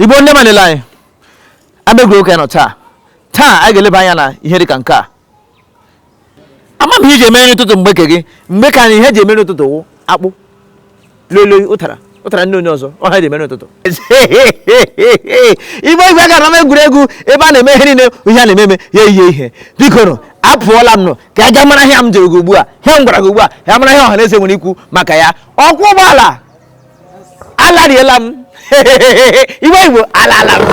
igbo ndị ọma nile anyị ama egwuregwu ka anyị nọ taa taa anyị ga-eleba anya na ihe dị ka nke a ama m ihe e ji emeri ụtụtụ mgbe ke gị mgbe ke anyị ihe e ji emeri ụtụtụ wụ akpụ loiloi ụtara ụtara ndị onye ọzọ ọ ha e ji emeri ụtụtụ igbo igwe gaa ama egwuregwu ebe a na-eme ihe niile ihe a na-eme eme ya eyie ihe biko nụ apụọla m nọ ka a gaa mara ihe m jụrụ gị ugbu a ihe m gwara gị ugbu a ya mara ihe ọha na eze nwere ikwu maka ya ọkwọ ụgbọala alariela m iwe igbo alala m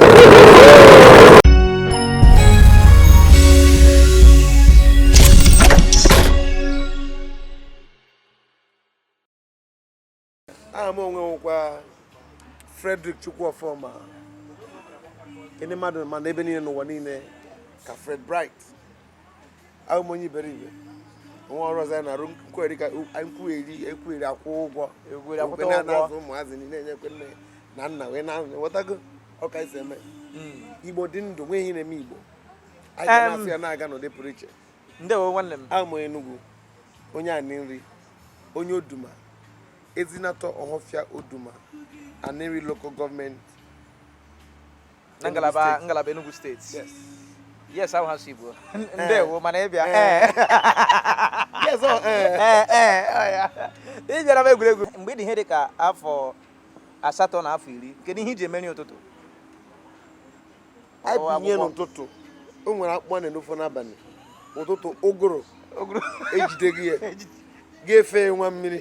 aha m onwe m wụkwa Frederick Chukwuofoma ndị mmadụ ma n'ebe niile n'ụwa niile ka Fred Bright awụ m onye iberibe nwe ọrụ ọzọ ya na-arụ nkweri ka nkweri ekweri akwụ ụgwọ ekweri akwụta ụgwọ na-azụ ụmụazị niile enyekwa nne na nna wee na ghọtago ka e si eme hmm. igbo dị ndụ nwe ihe na-eme igbo anyị na-asị ya na-aga n'ụdị pụrụ iche ndewo nwanne m awụ m onye Enugu onye Anịnri onye oduma ezinatọ ọhọfịa oduma Anịnri local gọọmenti na ngalaba ngalaba Enugu steeti yes yes ahụ ha si Igbo eh. ndewo mana ịbịa eh. eh. yes oh, ị bịara ama egwuregwu mgbe ị dị ihe dị ka afọ asatọ na afọ iri kedu ihe e ji emeri ụtụtụ abinye n'ụtụtụ o nwere akpụ a na-enofọ n'abalị ụtụtụ ụgụrụ ejide gị ya ga-efe nwa mmiri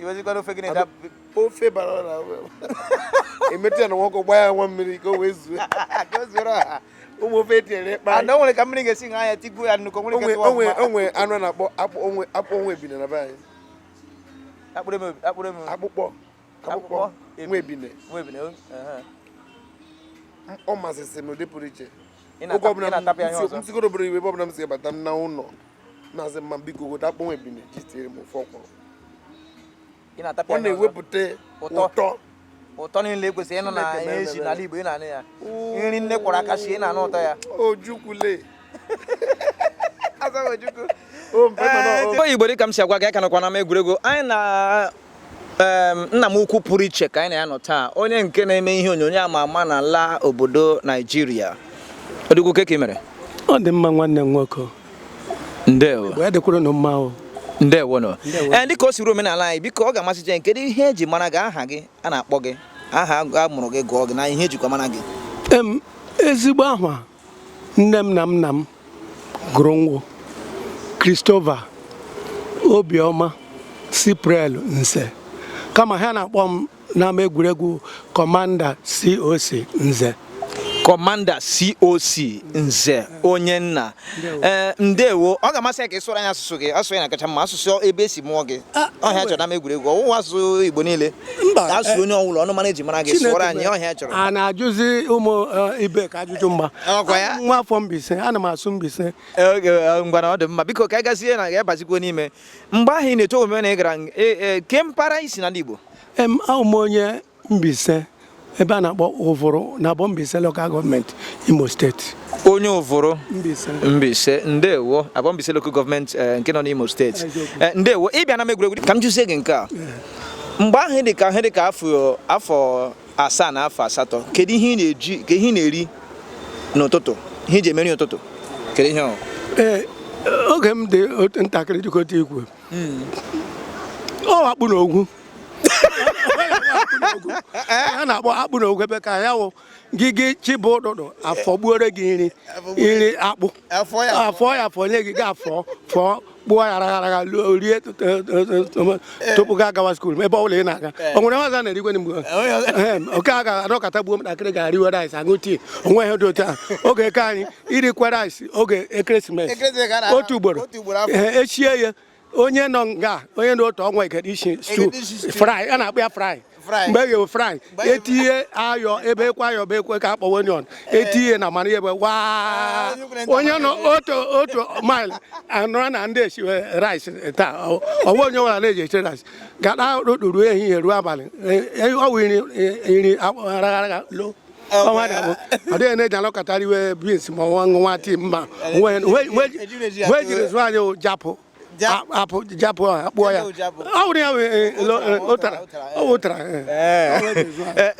iwezikwara ofe gị na-ede ofe gbara ọra emetụ ya n'ọkụ gbaa ya nwa mmiri ka o wee zuo ka o zuoro ọha ụmụ ofe etinyere ịkpa ana o nwere ka mmiri ga-esi ṅaa ya tigbuo ya nnukwu nwere ike tụwa mma o nwe anụ a na-akpọ akpọ nwa ebine na be anyị akpụkpọ akpụkpọ nwa ebine ọ masịsị m n'ụdị pụrụ iche oge ọbụla m sigoro obodo iwe ebe ọbụla m si bata m na ụlọ na-asị mma biko gota akpọ nwa ebine ji tinyere m ofe ọkwụrụ ị na-atapịa ọ anya ọzọ. na-ewepụta Ụtọ. ụtọ ụtọ niile ekwesịrị ịnụ na Chineke ihe mere eji ebere. n'ala Igbo ị na-anụ ya nri nne kwọrọ aka sie ị na-anụ ụtọ ya ojukwule Azaghị Ojukwu. o mpe mana o- Igbo Igbo dịka m si agwa gị a ka nọkwa n'ama egwuregwu anyị na nna m ukwu pụrụ iche ka anyị na ya nọ taa onye nke na-eme ihe onyonyo a ma ama n'ala obodo naijiria odogwu kee ka i mere ọ dị mma nwanne m nwoke ndewo ya dịkwuru unu mma o ndewo nụ ee eh, dịka o siri omenala anyị biko ọ ga-amasị jen kedu ihe eji mara gị aha gị a na-akpọ gị aha a mụrụ gị gụọ gị na ihe ejikwa mara gị ezigbo aha nne m na nna m gụrụ m wụ Christopher Obiọma Cypriel Nze kama ha na-akpọ m n'ama egwuregwu Commander COC Nze Commander COC Nze onye nna ee eh, ndewo ọ ga-amasị ya ka ị sụọrọ anyị asụsụ gị asụsụ ya na kacha mma asụsụ ebe e si mụọ gị ọ ihe a chọrọ n'ama egwuregwu ọwụwa asụsụ igbo niile mba ka asụ eh, onye ọwụla ọnụmara eji mara gị sụọrọ anyị ọ ihe a chọrọ a na-ajụzi ụmụ eh, ibe ka ajụjụ m wụ nwa afọ Mbaise ana m asụ Mbaise eh, ngwanụ ọ dị mma biko ka anyị gazie na ga-abazikwo n'ime mgbe ahụ ị na-eto omume na ị gara kee mpaghara i si n'ala Igbo em awụ m onye Mbaise ebe a na-akpọ Uvuru na Aboh Mbaise Local Government Imo State onye Uvuru Mbaise ndewo Aboh Mbaise Local Government eh, nke nọ n'Imo State eh, ndewo ịbịa n'ama egwuregwu ka m jụzie gị nke a mgbe ahụ dị ka ihe dị ka afọ asaa na afọ asatọ kedu ihe ị na-eji ka ihe ị na-eri n'ụtụtụ ihe i ji eme nri ụtụtụ kedu ihe ọ eh, oge m dị ntakịrị dịka otu i kwu hmm. ọ akpụ na ọgwụ a na-akpọ akpụ na ọgwụ bekee ya wụ gị gị chi bọọ ụtụtụ afọ gbuore gị nri iri akpụ afọ ya afọ nye gị gị afọ fọọ kpụọ ya ragharaga rie tupu gị agawa school ebe ọ bụla ị na-aga o nwere nwaza na-erigwe mgbe oke a ga-adọkọta gbuo ntakịrị ga-eriwe rice aṅụ tea o nwe ihe dị otu a oge eke anyị irikwa rice oge ekeresimesi otu ugboro echie ya onye nọ nga onye na otu ọnwa egede isi stew fry a na-akpọ ya fry mgbe e ghewe fry etinye ayọ bekee ayọ bekee ka a kpọwa onion etinye na mmanụ ebe waa onye nọ otu otu mile anụra na ndị a esiwe rice taa ọwa onye nwara na-eji eche rice gada rụtụrụ ehihie ruo abalị ọ wụ iri iri agha lo ọnwa na abụ ọ dịghị na-eji anọkata eriwe beans ma ọ wụ ṅụwa tea mba ihe e jiri zụọ anyị japụ akpụ japụ a kpụọ ya ọ wụrụ ya ụtara ọ wụ ụtara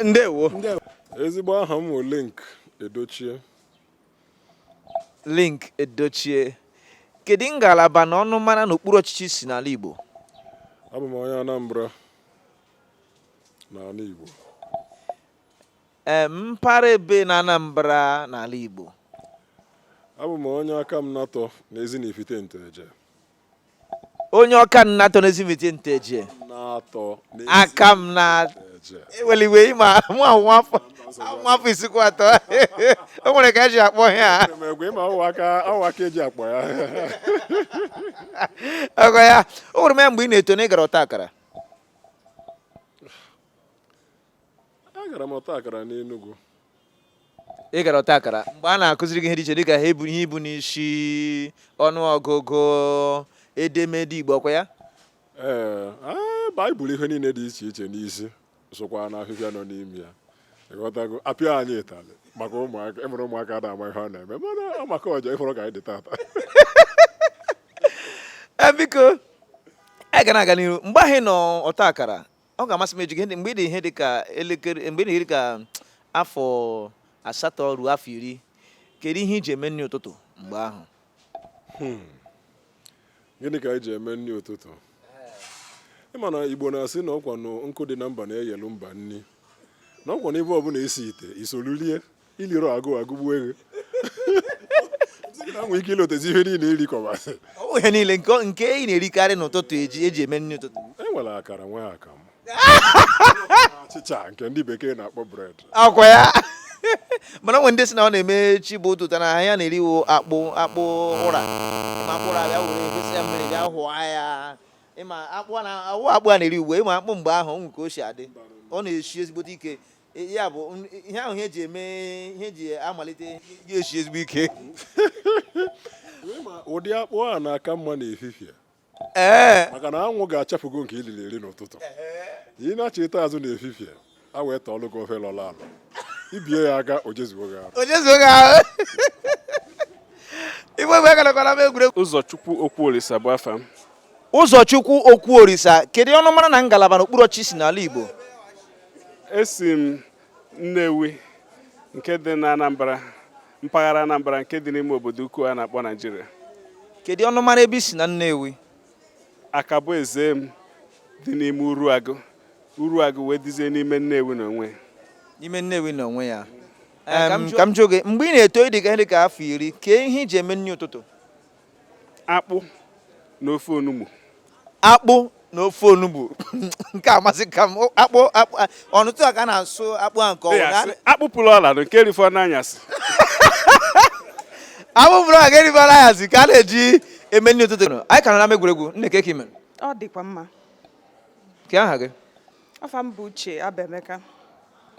ndewo ezigbo aha m bụ Linc Edochie Linc Edochie kedu ngalaba na ọnụmara n'okpuru ọchịchị i si n'ala igbo abụ m onye anambra n'ala igbo mpaghara ebe na Anambra n'ala Igbo abụ m onye Akamanatọ n'ezi na ifite nteje onye Akamanatọ n'ezi na ifite nteje aka m na eweliwe ịma mụ ahụ nwafọ nwafọ isikwa atọ o nwere ka eji akpọ ya o nwere ka eji akpọ ya ọgọ ya o nwere mgbe ị na-eto na ị gara ọta akara agara m ọta akara n'Enugu ị gara ọta akara mgbe a na-akụziri gị ihe dị iche dịka ha ebu ihe ibu n'isi ọnụ ọgụgụ edemede igbo ọkwa ya ee ee, baịbụl ihe niile dị iche iche n'isi sokwa na ahịhịa nọ n'ime ya ịghọtago apịa anyị ịtalị maka ụmụaka ịmụrụ ụmụaka ada ama ihe ọ na-eme mana ọ maka ọjọọ ị hụrụ ka anyị dị tata Eh, biko anyị ga na-aga n'ihu mgbe ahụ ị nọ ọta akara ọ ga-amasị m ịjụ gị mgbe ị dị ihe dị ka elekere mgbe ị dị ihe dị ka afọ asatọ ruo afọ iri kedu ihe i ji eme nri ụtụtụ mgbe ahụ hmm. gịnị ka anyị ji eme nri ụtụtụ ịma na igbo na-asị na ọkwa na nkụ dị na mba na-eyelu mba nri na ọkwa na ebe ọbụla e si ite i solu lie i lirọ agụụ agụgbuo gị na nwee ike ilotezi ihe niile irikọbasị ọ bụ ihe niile nke nke ị na-erikarị n'ụtụtụ eji eji eme nri ụtụtụ e nwere akara nwee akamụ achịcha nke ndị bekee na-akpọ bred akwa ya mana o nwe ndị sị na ọ na-eme chi bọọ ụtụtụ na ya na-eriwo akpụ akpụ ụra ịma akpụ ụra bịa were gosi ya mmiri bịa hụọ ya ịma akpụ a na-awụ akpụ a na-eri ugbu a ịma akpụ mgbe ahụ o nwe ka o si adị ọ na-esi ezigbote ike ya bụ ihe ahụ ihe ji eme ihe ji amalite ji esi ezigbo ike ụdị akpụ a na-aka mma n'efifie ee maka na anwụ ga-achapụgo nke i liri eri n'ụtụtụ ị nachịta azụ n'efifie a wee tọọlụ gị ofe lọlụ alọ i bie ya aka o jezuo gị ahụ o jezuo gị ahụ igbe egbe garakwara m egwuregwu Ụzọchukwu Okwuolisa bụ afa m Ụzọchukwu Okwuorisa, kedu ọnụmara na ngalaba n'okpuru ọchịchị i si n'ala Igbo? Esi m Nnewi nke dị na Anambra, mpaghara Anambra nke dị n'ime obodo ukwu a na-akpọ Naijiria. Kedu ọnụmara ebe i si na Nnewi? Akaboezem dị n'ime Uruagụ. Uruagụ wee dịzie n'ime Nnewi n'onwe ya. N'ime Nnewi n'onwe ya. Ka m jụọ gị, mgbe ị na-eto ị dị ka ihe dị ka afọ iri, kee ihe i ji eme nri ụtụtụ? akpụ na ofe onugbu akpụ na ofe onugbu nke amasịka m akpụ akpụ ọ n'ụtụtụ a ka a na-asụ akpụ a nke ọ wụ akpụ pụrụ ọla na nke e rifọ n'anyasị akpụ pụrụ ọla e rifọ n'anyasị ka a na-eji eme nri ụtụtụ anyị ka nọ n'ama egwuregwu nne kee ka i mere ọ dịkwa mma kee aha gị afa m bụ uche abemeka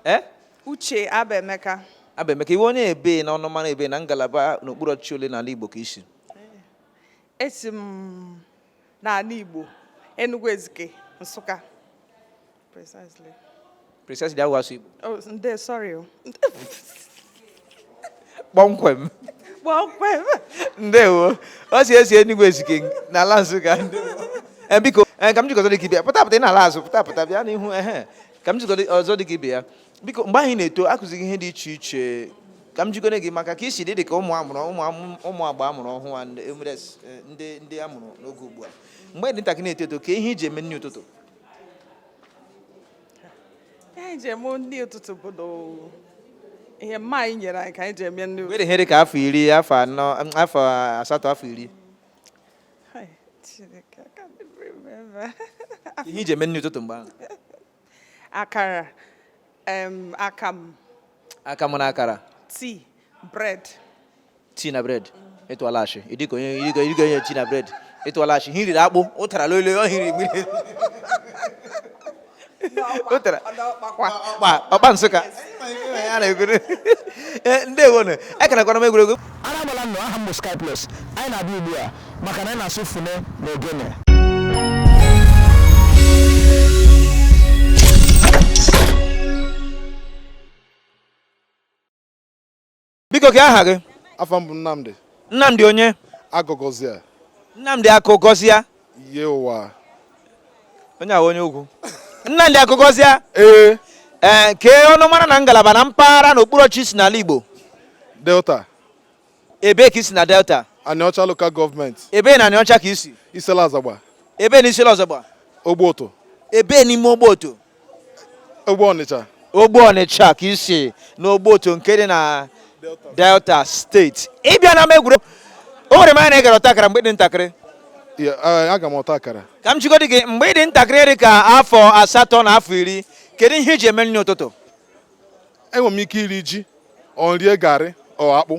ee Uche Abaemeka. Abaemeka, ị wụ onye ebee na ọnụmara ebee na ngalaba n'okpuru ọchịchị ole n'ala Igbo ka i si? Esi m n'ala Igbo, Enugu Ezike, Nsụka. Precisely. Precisely, ahụ asụ Igbo. Oh, ndo, sorry. Oh. Kpọmkwem. Kpọmkwem. Ndewo. Ọ sị o si Enugu Ezike n'ala Nsụka. Ndewo. Eh, biko eh, ka m jụgodi gị bịa pụta pụta ị na-ala azụ pụta pụta bịa n'ihu ehe eh, ka m jụgodi ọzọ dị ka ibe ya biko mgbe ị na-eto a kụziri gị ihe dị iche iche ka m jụgodi gị maka ka i si dị dị ka ụmụ a mụrụ ụmụ agba a mụrụ ọhụụ a ndị e, ndị a mụrụ n'oge ugbu a mgbe ị dị ntakịrị na-eto eto kee ihe i ji eme nri ụtụtụ ihe i ji eme nri ụtụtụ bụ ihe mama anyị nyere anyị ka anyị ji eme nri ụtụtụ. Mgbe ị dị ihe dị ka afọ iri afọ anọ afọ asatọ afọ iri ihe i ji eme nri ụtụtụ mgbe ahụ akara akamụ akamụ na akara tii bred tii na bred ị tụọla asị ị dị ka onye ị dị ka onye tii na bred ị tụọla asị ihe i riri akpụ ụtara lolo ọ hiri mmiri ọkpa nsụka eh, ndewonụ ekenekwara m egwuregwu ara agbala unu aha m bụ Sky Plus anyị na-abịa ugbu a maka na anyị na-asụ fọne na ogene biko kee aha gị afa m bụ nnamdị nnamdị onye akụgọzia nnamdị akụgọzia ihe ụwa onye a wụ onye ukwu nnamdị akụgọzia ee ee eh, kee ọnụmara na ngalaba na mpaghara na okpuru ọchịchị i si n'ala igbo delta ebee ka i si na delta anịọcha lokal gọọmenti ebee na anịọcha ka i si isele azagba ebee na isele azagba ogbe ụtụ ebee n'ime ogbe ụtụ ogbe ọnịcha ogbe ọnịcha ka i si n'ogbe ụtụ nke dị na delta steeti ị bịa n'ama egwuregwu o were m anya na ị gara ọta akara mgbe ị dị ntakịrị aga m ọta akara ka m jụgodi gị mgbe ị dị ntakịrị dị ka afọ asatọ na afọ iri kedu ihe i ji eme nri ụtụtụ enwere m ike iri ji or m rie garị or akpụ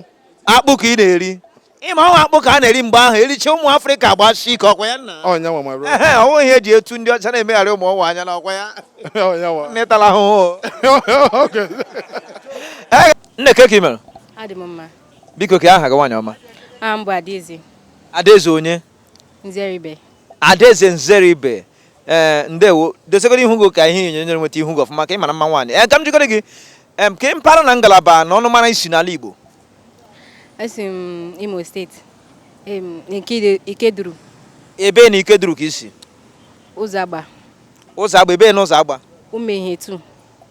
akpụ ka ị na-eri ị ma ọ wụ akpụ ka a na-eri mgbe ahụ ericha ụmụ afrịka gbasi ike ọkwa ya nna ọ ya nwa my bro ehe ọ wụ ihe e ji eto ndị ọcha na-emegharị ụmụ ụwa anya na ọkwa ya ọ ya nwa netala ahụhụ Okay. nne kee ka ị mere adị m mma biko kee aha gị nwaanyị ọma aha m bụ adaeze adaeze onye nzeribe adaeze nzeribe ee ndewo dosegoro ihu gị ka ihe onyonyo anyị were nweta ihu gị ọfụma ka ị mara mma nwaanyị ee ka m jikọrọ gị em kee mpaghara na ngalaba na ọnụmara i si n'ala igbo Esi m Imo steeti, em, Ikede- Ikeduru, Ebee na Ikeduru ka i si? Ụzọagba, Ụzọagba, ebee na Ụzọagba? Umuehietu.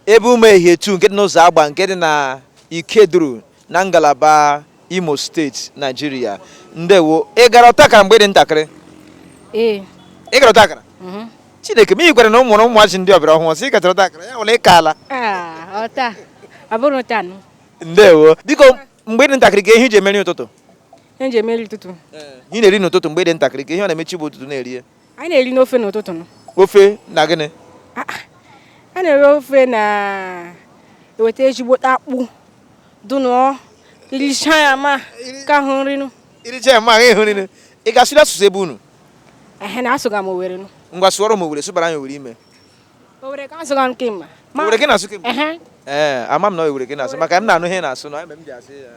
Ebe Umuehietu nke dị n'Ụzọagba nke dị na Ikeduru na ngalaba Imo steeti, Naijiria. Ndewo. Ị gara ọtakara mgbe ị dị ntakịrị? Ee, Ị gara ọtakara? mhm. Chineke, ma ị gwara na ụmụ na ụmụazị ndị ọbịara ọhụrụ, sị ị gachara ọtakara, ya wụla ị kaala. Ah, ọta, ọ bụrọ taa nụ. ndewo biko mgbe ị dị ntakịrị kee ihe i ji eme nri ụtụtụ ihe m ji eme nri ụtụtụ ihe ị na-eri n'ụtụtụ mgbe ị dị ntakịrị kee ihe ọ na-eme chi bọọ ụtụtụ na-eri ya anyị na-eri nụ ofe n'ụtụtụ nụ ofe na gịnị Ah, ah. a na-eri ofe na eweta ezigbote akpụ dụnụọ i richa ya ma ka ọ wụ nri nụ i richa ya ma ahụ ịhụ nri ị ga-asụrụ asụsụ ebe unu ehe na asụga m owere nụ ngwa sụọrọ m owere sụbara anyị owere ime Owere ka asụga nke mma. Owere ka ị na-asụ kemgbe? Ehe. Ee, ama m na owere ka ị na-asụ maka m na-anụ ihe ị na-asụ na ebe m ji asị ya.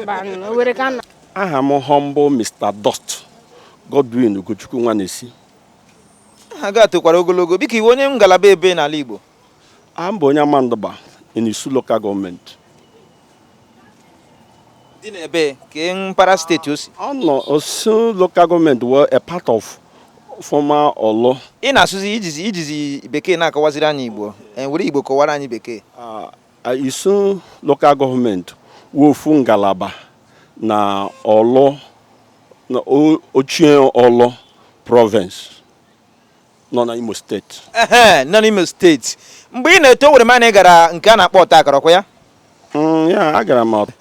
Mba, nụ, owere ka nna. aha m humble mr dot godwin ugochukwu nwanesi Aha gị a tokwara ogologo. Biko ị wụ onye ngalaba ebe n'ala Igbo. aha m bụ onye amandugba in isu local gọọmenti dị n'ebee kee mpaghara steeti o si ọ nọ isu local gọọmenti were a part of former orlu ị na-asụzi i jizi i jizi bekee na-akọwaziri anyị igbo ee were igbo kọwara anyị bekee uh, isu local gọọmenti wụ ofu ngalaba na orlu na o- ochie orlu province nọ na Imo steeti ehe nọ n'Imo steeti mgbe ị na-eto e were m na ị gara nke a na-akpọ ọta akara ọkwa ya Mm, ya agara m ọt-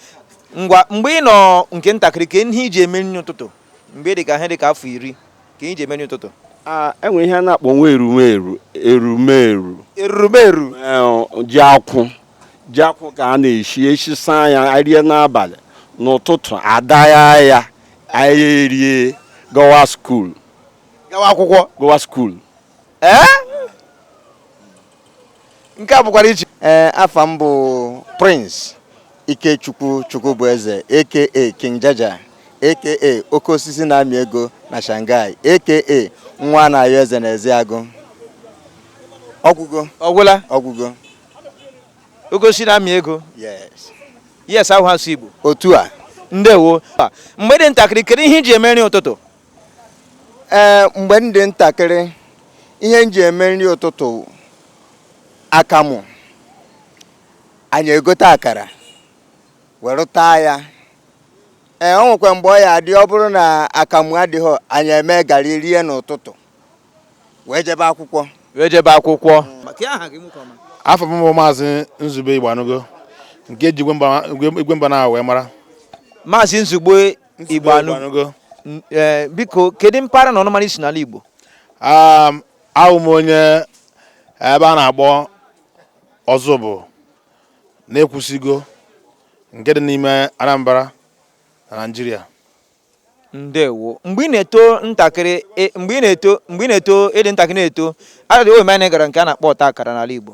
ngwa mgbe ị nọ nke ntakịrị kee ihe i ji eme nri ụtụtụ mgbe ị dị ka ihe dị ka afọ iri ka i ji eme nri ụtụtụ Ah, e nwe ihe a na-akpọ nwa erumeru erumeru erumeru Eh, ji akwụ ji akwụ ka a na-eshi eshi saa ya anyị rie n'abalị n'ụtụtụ a dagha ya anyị erie gawa skuul gawa akwụkwọ gawa skuul ee nke a pụkwara iche ee afa m bụ Prince Ikechukwu Chukwubueze aka King Jaja aka oke osisi na-amị ego na Shanghai aka nwa na-ayọ eze na Ezeagụ ọgwụgo ọgwụla ọgwụgo oke osisi na-amị ego yes yes ahụ asụ Igbo otu a ndewo mgbe ị dị ntakịrị kedu ihe i ji eme nri ụtụtụ ee mgbe m dị ntakịrị ihe m ji eme nri ụtụtụ akamụ anyị egote akara were taa ya ee o nwekwa mgbe ọ ya-adị ọ bụrụ na akamụ adịghị anyị eme garị rie n'ụtụtụ wee jebe akwụkwọ wee jebe akwụkwọ afa m bụ Maazị Nzube Igboanụgo nke e ji igwe mba na wee mara Maazị Nzube Igboanụgo e, biko kedu mpaghara na ọnụmara i si n'ala Igbo um, awụ m onye ebe a na-akpọ Ọzụbụlụ n'Ekwusigo nke dị n'ime Anambra na Naịjirịa ndewo mgbe ị na-eto ntakịrị e, mgbe ị na-eto mgbe ị na-eto ị dị ntakịrị na-eto adịghị omenala gara nke a na-akpọ ọta akara n'ala Igbo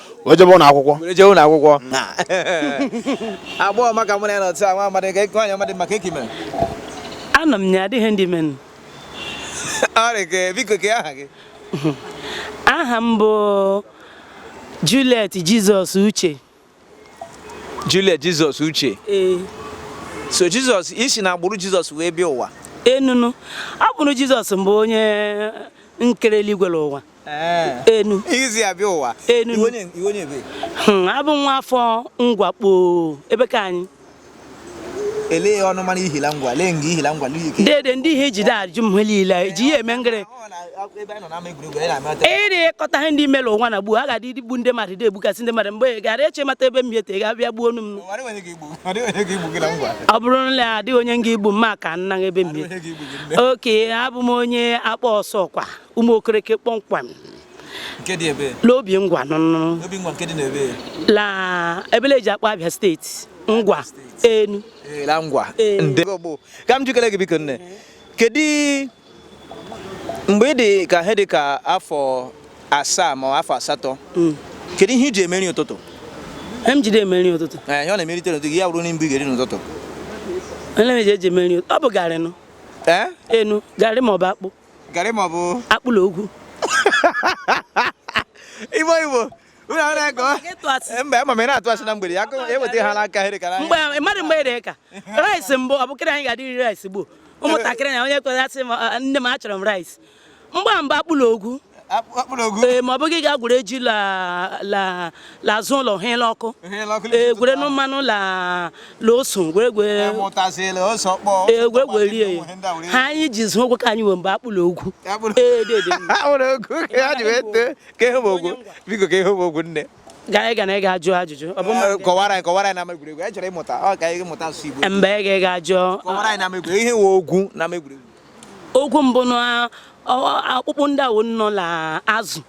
wee jebe ụlọ akwụkwọ were jee ụlọ akwụkwọ agbọghọ ọma ka mụ na ya nọ taa nwa amadị ka nwaanyị amadị maka eki mere anọ m ya adịghị ndị menụ ọrị ka biko ka aha gị aha m bụ Juliet Jizọs Uche Juliet Jizọs Uche ee so Jizọs i si na agbụrụ Jizọs wee bịa ụwa enunu agbụrụ Jizọs mbụ onye nkere eluigwe na ụwa enu i si abịa ụwa enu hmm, abụ m nwa afọ Ngwa kpọọ ebe ka anyị elee ọnụ mara ihila ngwa lee nga ihila ngwa dede ndị ihe ejide ajụ m niile e ji ya eme ngịrị ịrị ịkọta ihe ndị mere ụwa na gbuo a ga-adị igbu ndị mmadụ dị egbukasị ndị mmadụ mgbe gara eche mata ebe m hete ga abịa gbuo onu m ọ bụrụ na ya adịghị onye nga igbu mma ka nna ebe m okay abụ m onye Akpaa Ọsọkwa Ụmụokereke kpọmkwem n'Obingwa nụnụ la ebele e ji akpọ Abịa steeti ngwa enu ka m jikere gị biko nne kedu mgbe ị dị ka ihe dị ka afọ asaa ma afọ asatọ hmm. kedu ihe i ji eme nri ụtụtụ m jide eme nri ụtụtụ eh, ihe ọ na-emerite n'ụtụtụ ya bụrụ na mbụ ga-eri n'ụtụtụ ọ bụ garị nụ eh? enu garị ma ọ bụ akpụ garị ma ọ bụ akpụ la ogwu igbo igbo unu ahụ na-ego Ịtụ asị. mba ama m ị na-atụ asị na mgbede ya akụ eweta ha n'aka ha dịkara mgbe anya mmadụ mgbe ere ka rice mbụ ọ bụkịrị anyị ga-adị iri rice gboo ụmụntakịrị na onye kwere asị m "Ah, nne m achọrọ m rice mgbe a mba akpụ la ogwu ee ma ọ bụghị ga gwere ji la azụ ụlọ ha ele ọkụ ee gwere nnu mmanụ la ose gwere egwe gwerie ya ha anyị ji zụ ụgwọ ka anyị nwe mgbe akpụ la ogwu biko ka ihe ogwu nne gaa ga na ị ga-ajụ ajụjụ kọwara anyị kọwara anyị n'ama egwuregwu anyị chọrọ ịmụta ọ ka anyị mụta asụsụ Igbo mgbe ị ga-ajụ kọwara anyị n'ama egwuregwu ihe nwe ogwu n'ama egwuregwu ogwu mbụ na akpụkpụ ndị awo nọ na azụ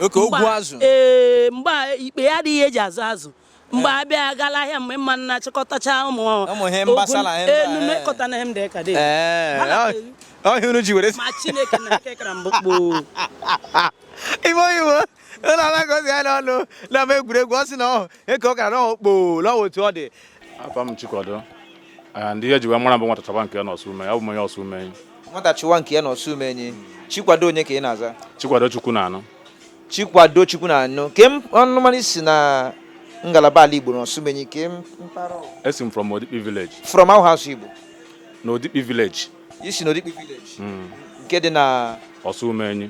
oke ogwu azụ ee mgbe ikpeghe adịghị e ji azụ azụ mgbe eh. a bịa gaa la ahịa mgbe mma na-achịkọtacha ụmụ enume kọta na hem dị ka dị ọhịa unu ji were ma chineke na kekara mbụ kpoo ime oyibo ụlọ alagozi ya n'ọnụ n'ama egwuregwu ọ sị na ọhụ eke ọ gara n'ọhụ kpoo n'ọhụ otu ọ dị afa m chikwado Ah, ndị ihe ji wee mara m bụ nwata chọba nke ya n'ọsụme abụ m onye ọsụme nwata chọwa nke ya na ọsụmenyi chikwado onye ka ị na-aza chikwado chukwunanụ chikwado chukwunanụ ke m- ọnụmara i si na ngalaba ala igbo na ọsụmenyi ke m- mpaghara ọ? esi m from odikpi village from ahụ asụ igbo na odikpi village i si na odikpi village nke dị na ọsụmenyi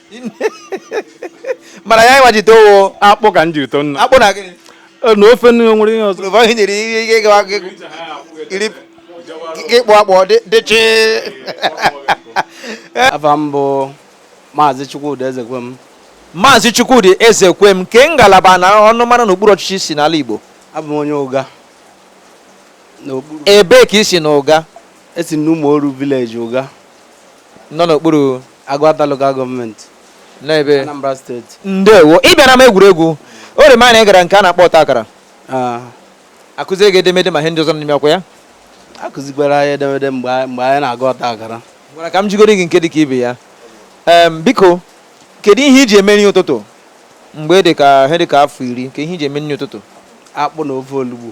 mana ya ịwa jite ọ wụ akpụ ka m jiri too nna akpụ na gịnị Eh, na ofe nri nwere ihe ọzọ Rụba ihe nyere ihe ike gawa gị iri gị kpụ akpụ ọ dị- dịchị afa m bụ maazị chukwudi ezekwem maazị chukwudi ezekwem kee ngalaba na ọnụmara n'okpuru ọchịchị i si n'ala igbo abụ m onye ụga n'okpuru ebee ka i si na ụga esi m n'ụmụoru vileji ụga nọ n'okpuru Agụata Local Gọọmenti n'ebe Anambra Steeti. ndewo ị bịara n'ama egwuregwu o doro m anya na ị gara nke a na-akpọ ọta akara Ah, a kụziri gị edemede ma ihe ndị ọzọ n'ime ọ kwa ya a kụzikwara anyị edemede mgbe anyị mgbe anyị na-agụ ọta akara gwara ka m jigoro gị nke dị ka ibe ya em biko kedu ihe i ji eme nri ụtụtụ mgbe dị ka ihe dị ka afọ iri kedu ihe i ji eme nri ụtụtụ akpụ na ofe olugbu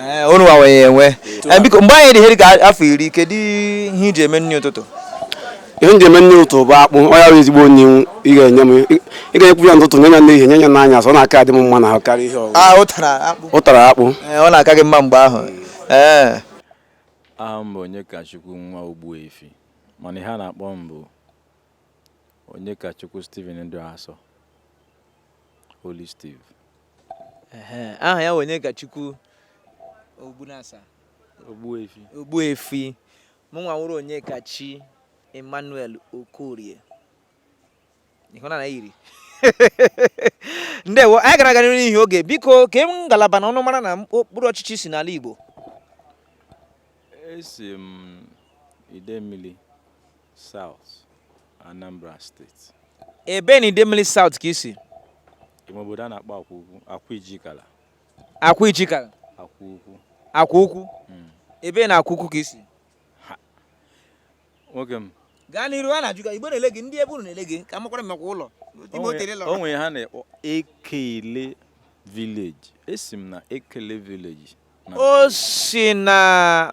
Eh, unu nwa ya enwe eh, biko mgbe anyị dị ihe dị ka afọ iri kedu ihe i ji eme nri ụtụtụ ihe m ji eme nri ụtụtụ bụ akpụ ọ ya bụ ezigbo nri ị ga-enye m ị ga-enyekwu ya n'ụtụtụ nye ya n'ehihie nye ya n'anyasị ọ na-aka adị m mma n'ahụ karịa ihe ọzọ ah, ụtara akpụ eh, ọ na-aka gị mma mgbe ahụ aha m bụ onyekachukwu nwa ogbuefi mana ihe a na-akpọ m bụ onyekachukwu Stephen dị asọ Holy Steve aha ya onyekachukwu ogbunasa ogbuefi ogbuefi mụnwa wụrụ onyekachi emmanuel okorie ịhụna na yiri ndewo anyị gara gara n'ihi oge biko ke ngalaba na ọnụmara na okpuru ọchịchị i si n'ala igbo esi m idemmili South, Anambra State. Ebee na Idemili South ka i si? Ime obodo a na-akpọ Akwa Ukwu, Akwa Ijikala. Akwa Ijikala? Akwa Ukwu. Akwa Ukwu? Hmm. Ebee na Akwa Ukwu ka i si? Nwoke m. Gaa n'iru a na-ajụ gị, Igbo na-ele gị, ndị ebe unu na-ele gị, ka m makwara ma ị makwa ụlọ. O nwere ihe a na-akpọ Ekele Village. Esi m na Ekele Village. O si na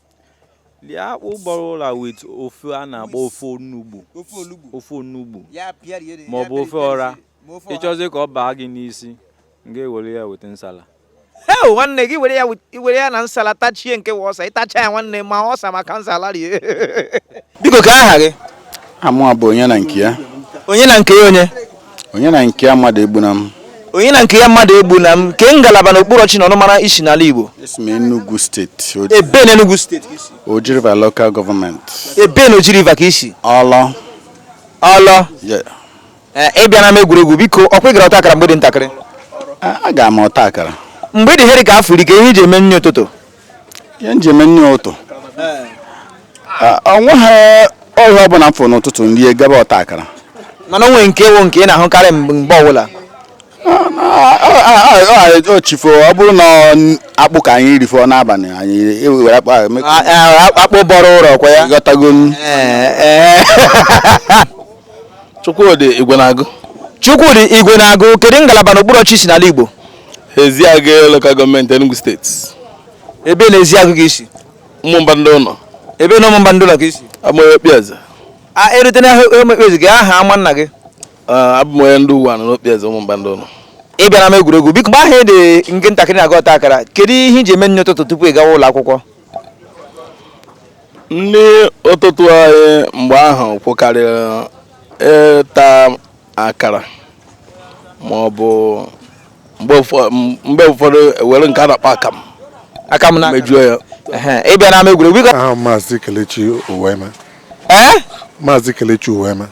lie akpụ bọrọ ụra with ofe a na-akpọ ofe onugbu ofe olugbu ofe onugbu ya pịa rie ma ọ bụ ofe ọra ị chọzi ka ọ baa gị n'isi m ga-ewere ya with nsala heo nwanne gị were ya wit- were ya na nsala tachie nke wa ọsa ị tachaa ya nwanne ma ọsa maka nsala rie biko ke aha gị aha mụa bụ onyenankeya onyenankeya onye onyenankeya mmadụegbunam onyenankeya mmadụegbunam ke ngalaba na okpuru ọchịchị na ọnụmara i si n'ala Igbo esi m Enugu steeti ebee na Enugu steeti ka i si Oji River local gọọmenti ebee na Oji River ka i si ọlọ ọlọ ị bịa n'ama egwuregwu biko ọ kwa ị gara ọta akara mgbe ị dị ntakịrị agara m ọta akara mgbe ị dị ihe rị ka afọ iri ke ihe i ji eme nri ụtụtụ ihe m ji eme nri ụtụtụ o nweghị ihe ọbụla m fụrụ n'ụtụtụ m rie gaba ọta akara mana o nwere nke wụ nke ị na-ahụkarị mgbe mgbe ọbụla chi fo ọ bụrụ na ọ- akpụ ka anyị rifọ n'abalị anyị ewere akpụ ahụ mee- A- a- akpụ bọrọ ụra ọ kwa ya aghọtago m Ee, ee. Chukwudi Igwenagụ Chukwudi Igwenagụ kedu ngalaba na okpuru ọchịchị i si n'ala Igbo Eziagụ Local Gọọmenti Enugu Steeti. Ebee na Eziagụ ka i si? Ụmụmba Ndịụnọ. Ebee na Ụmụmba Ndịụnọ ka i si? Abụ m onye Okpieze. E rute na Okpieze ke aha ama nna gị? Abụ m onye ndị Uwenu n'Okpieze Ụmụmba Ndịụnọ. Ị bịa n'ama egwuregwu biko mgbe ahụ ị dị nke ntakịrị na-aga ọta akara kedu ihe i ji eme nri ụtụtụ tupu ị gawa ụlọ akwụkwọ? Nri ụtụtụ anyị mgbe ahụ wụkarịrị ịta akara ma ọ bụ mgbe ụfọ- m- mgbe ụfọdụ e were nke a na-akpọ akamụ akamụ na mejuo ya Ehe, ị bịa n'ama egwuregwu biko aha m maazị kelechi uwaeme ee maazị kelechi uwaeme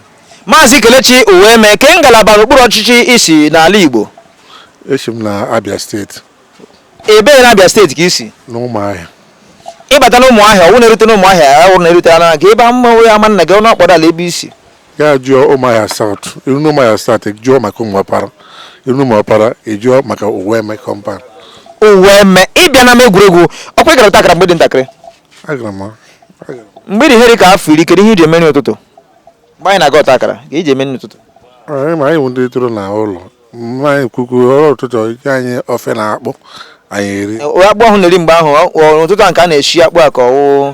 maazị kelechi uwaeme ke ngalaba na okpuru ọchịchị i si n'ala igbo esi m na abia steeti ebee na abia steeti ka i si na ụmụahịa ị bata na ụmụahịa ọ wụ na e rute na ụmụahịa ọ wụ na e rute anụ gị ebe mmanwụ ya ama nna gị ọnụ akpọdala ebe i si ya jụọ ụmụahịa South iru na ụmụahịa South jụọ maka ụmụọpara iru na ụmụọpara ejụọ maka uweme compound uweme ịbịa n'ama egwuregwu ọkwa ị gara ọta akara mgbe ị dị ntakịrị agara m agara m. mgbe ị dị ihe dị ka afọ iri kedu ihe iji eme nri ụtụtụ mgbe anyị na-aga ọta akara ka iji eme nri ụtụtụ anyị ma anyị bụ ndị toro na ụlọ mma anyị kwukwu ọrụ ụtụtụ ike anyị ofe na akpụ anyị eri akpụ ahụ na-eri mgbe ahụ ọ- ọ- ụtụtụ a nke a na-eshi akpụ a ka ọwụ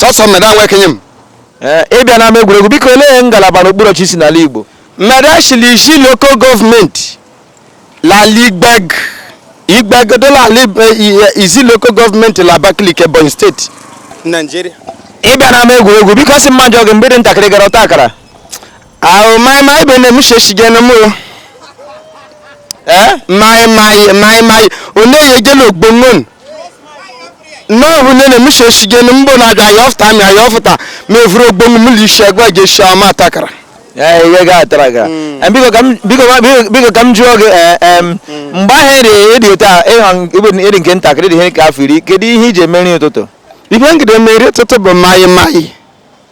sọsọ mmeda nwa ekenye m eh, ịbịa n'ama egwuregwu biko olee ngalaba n'okpuru ọchịchị i si n'ala Igbo mmeda shi l'Izzi lokal gọọmenti l'ala Igbeagu igbegodola ala eh, Izzi lokal gọọmenti la Abakaliki Ebonyi steeti Naijiria ịbịa n'ama egwuregwu biko sị m jụọ gị mgbe ị dị ntakịrị gara ọta akara ahụ maịma ibe na-eme sheshigene m maịmaị maịmaị onye ya ejela ogbongon n'ọhụ nne na emisha eshige na mgbo na-abịa anyị ọfụta amị anyị ọfụta ma evuru ogbonwu mụlụ isi agwa gị esi ama ọta akara ee ihe ga atara gara Em, biko ka m- biko ka- biko- biko ka m jụọ gị ee, em, mgbe ahụ ịdị ịdị otu a ịha ịbụ ịdị nke ntakịrị dị ihe ka afọ iri kedu ihe iji eme nri ụtụtụ ihe m gide eme nri ụtụtụ bụ maịmaị